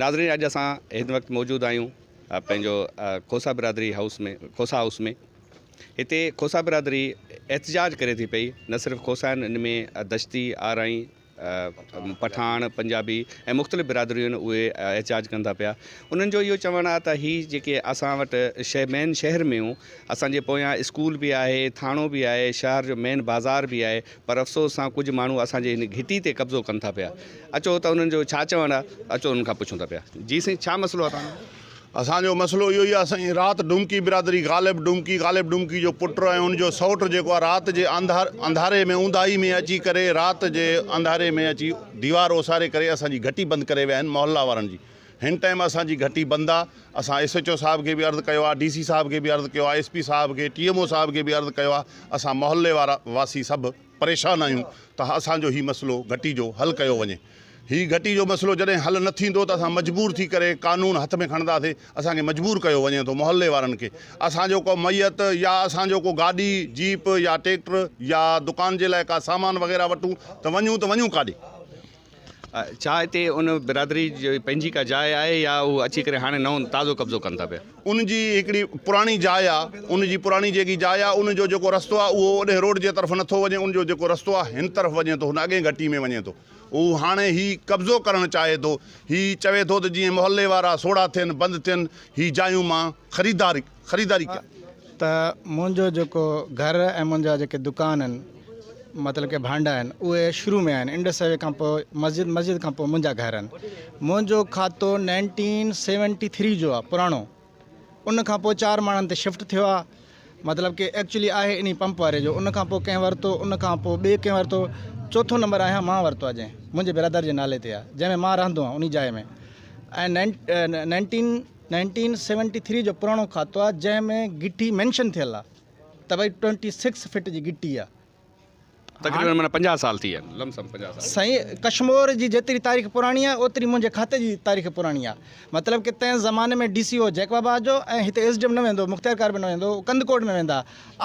ناظرين اڄ اسان هن وقت موجود آهيون پنهنجو کوسا برادري هائوس ۾ کوسا هائوس ۾ هتي کوسا برادري احتجاج ڪري ٿي پئي نه صرف کوسا آهن ان ۾ دشتي آرائي پٺاڻ پنجابي ۽ مختلف برادريون آهن اهي احتجاج ڪن ٿا پيا انهن جو اهو چوڻ آهي ته هي جيڪي اسان وٽ شهر مين شهر ۾ اسانجي پويان اسڪول به آهي ٿاڻو به آهي شهر جو مين بازار به آهي پر افسوس سان ڪجهه ماڻهو اسان جي هن گهٽي تي قبضو ڪن ٿا پيا. اچو ته انهن جو ڇا چوڻ آهي، اچو انهن کان پڇون ٿا پيا. جي سائين ڇا مسئلو آهي توهان جو؟ اسان جو مسئلو اهو ئي آهي سائين، رات ڊومڪي برادري غالب ڊومڪي، غالب ڊومڪي جو پٽ ۽ ان جو سئوٽ جيڪو آهي رات جي انڌاري ۾ اونداهي ۾ اچي ڪري رات جي انڌاري ۾ اچي ديوار اوساري ڪري اسان جي گهٽي بند ڪري ويا آهن محله وارن جي. هن ٽائيم اسان جي گهٽي بند آ اسان ايس ايچ او صاحب کي به عرض ڪيو آ ڊي سي صاحب کي به عرض ڪيو آ ايس پي صاحب کي ٽي ايم او صاحب کي به عرض ڪيو آ اسان محلي وارا واسي سڀ پريشان آهيون ته اسان جو هي مسئلو گهٽي جو حل ڪيو وڃي هي گهٽي جو مسئلو جڏهن حل نه ٿيندو ته اسان مجبور ٿي ڪري قانون هٿ ۾ کڻنداسي اسان کي مجبور ڪيو وڃي ٿو محلي وارن کي اسان جو ڪو ميت يا اسان جو ڪو گاڏي جيپ يا ٽيڪٽر يا دڪان جي لاء ڪا سامان وغيره وٺون ته وڃون ته وڃون ڪاڏي ڇا هتي ان برادري جي پنهنجي ڪا جاء آهي يا هو اچي ڪري هاڻي نئون تازو قبضو ڪن ٿا پيا؟ ان جي هڪڙي پراڻي جاء آهي. ان جي پراڻي جيڪي جاء آهي ان جو جيڪو رستو آهي اهو اوڏهين روڊ جي طرف نٿو وڃي. ان جو جيڪو رستو آهي هن طرف وڃي ٿو. هن اڳئين گهٽي ۾ وڃي ٿو. هو هاڻي هي قبضو ڪرڻ چاهي ٿو. هي چوي ٿو ته جيئن محلي وارا سوڙها ٿين، بند ٿين. هي جايون مان خريداري. خريداري ڪيا. ته منهنجو جيڪو گهر ۽ منهنجا جيڪي دڪان آهن مطلب ڪي ڀانڊا آهن اهي شروع ۾ آهن انڊس هاء وي کان پوء مسجد مسجد کان پوء منهنجا گهر آهن منهنجو کاتو نائنٽين سيونٽي ٿري جو آهي پراڻو ان کان پوء چار ماڻن تي شفٽ ٿيو آهي مطلب ڪي ايڪچلي آهي انهي پمپ واري جو ان کان پوء ڪنهن ورتو ان کان پوء ٻي ڪنهن ورتو چوٿون نمبر آهيان مان ورتو آهي جنهن منهنجي برادر جي نالي تي آهي جنهن ۾ مان رهندو آهيان انهي جاء ۾ ۽ نائنٽين نائنٽين سيونٽي ٿري جو پراڻو کاتو آ جنهن ۾ گهٽي مينشن ٿيل آ ته ڀئي ٽوئنٽي سڪس فٽ جي گهٽي آ. تقريبن معنيٰ پنجاهه سال ٿي ويا آهن لم سم پنجاهه سال. سائين ڪشمور جي جيتري تاريخ پراڻي آهي اوتري منهنجي کاتي جي تاريخ پراڻي آهي مطلب ڪه تنهن زماني ۾ ڊي سي او جيڪب آباد جو ۽ هتي ايس ڊي ايم نه ويندو هو مختيار ڪار به نه ويندو هو ڪنڌڪوٽ ۾ ويندا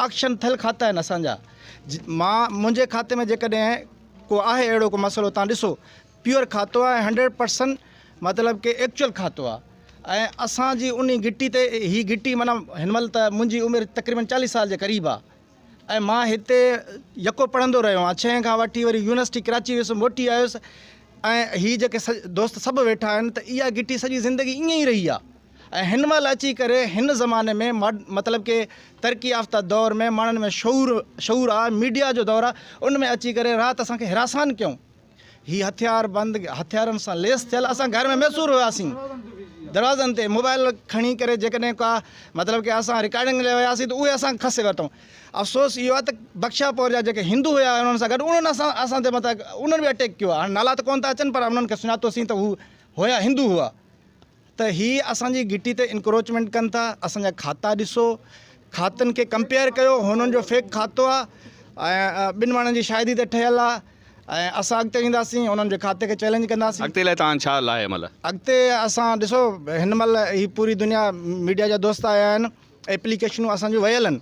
آڪشن ٿيل کاتا آهن اسان جا مان منهنجي کاتي ۾ جيڪڏهن ڪو آهي اهڙو ڪو مسئلو تان ڏسو پيور کاتو آهي هنڊريڊ پرسنٽ مطلب ڪي ايڪچوئل کاتو آهي ۽ اسان جي انهي گٽي تي هي گٽي معنيٰ هن مهل ته منهنجي عمر تقريبن چاليهه سال جي قريب آهي ۽ مان هتي يڪو پڙهندو رهيو آهيان ڇهين کان وٺي وري يونيورسٽي ڪراچي ويو هيس موٽي آيو هيس ۽ هي جيڪي دوست سڀ ويٺا آهن ته اها گٽي سڄي زندگي ائين ئي رهي آهي ۽ هن مهل اچي ڪري هن زماني ۾ مطلب ڪي ترقي يافته دور ۾ ماڻهن ۾ شعور شعور آهي ميڊيا جو دور آهي ان ۾ اچي ڪري رات اسان کي حراسان ڪيو هي هٿيار بند هٿيارن سان ليس ٿيل اسان گهر ۾ محصور هياسين دروازن تي موبائل کڻي ڪري جيڪڏهن ڪا مطلب ڪي اسان رڪارڊنگ لاء وياسين ته اهي اسان کسي ورتون افسوس اهو آهي ته بخشا پور جا جيڪي هندو هيا انهن سان گڏ انهن اسان اسان تي مطلب انهن به اٽيڪ ڪيو آهي هاڻي نالا ته ڪون ٿا اچن پر انهن کي سڃاتوسين ته هو هيا هندو هئا ته هي اسان جي گهٽي تي انڪروچمينٽ ڪن ٿا اسان جا کاتا ڏسو کاتن کي ڪمپيئر ڪيو هنن جو فيڪ کاتو آ ٻن ماڻهن جي شاهدي تي ٺهيل آ ۽ اسان اڳتي وينداسين انهن جي کاتي کي چئلينج ڪنداسين. اڳتي لاء توهان ڇا لاهي مل. اڳتي اسان ڏسو هن مهل هي پوري دنيا ميڊيا جا دوست آيا آهن ايپليڪيشنون اسان جون ويل آهن